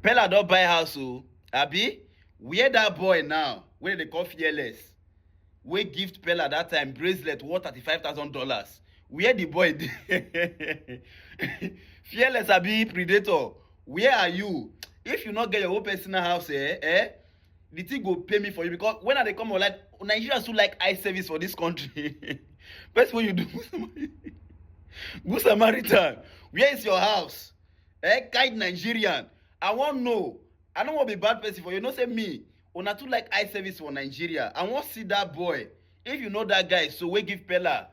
Pella don buy house o, abi? Where that boy now wey dem dey call fearless wey gift Pella that time bracelet worth thirty five thousand dollars, where the boy dey? Fearless abi predator, where are you? If you no get your own personal house eh, eh, the thing go pain me for you because when I dey come online, Nigerians too like eye service for this country. First when you do Good Samaritan, where is your house? Eh, guide Nigerian. I wan know. I no wan be bad person for you. No say me. Una too like eye service for Nigeria. I wan see that boy. If you know that guy, so wey give Pella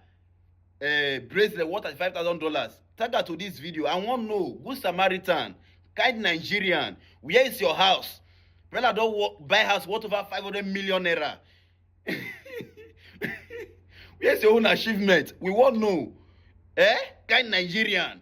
uh, bracelet worth thirty-five thousand dollars. Tag her to this video. I wan know. Good Samaritan. Guide Nigerian. Where is your house? Pella don wo- buy house worth over five hundred million naira. Where's your own achievement? We wan know. Eh? Kind Nigerian.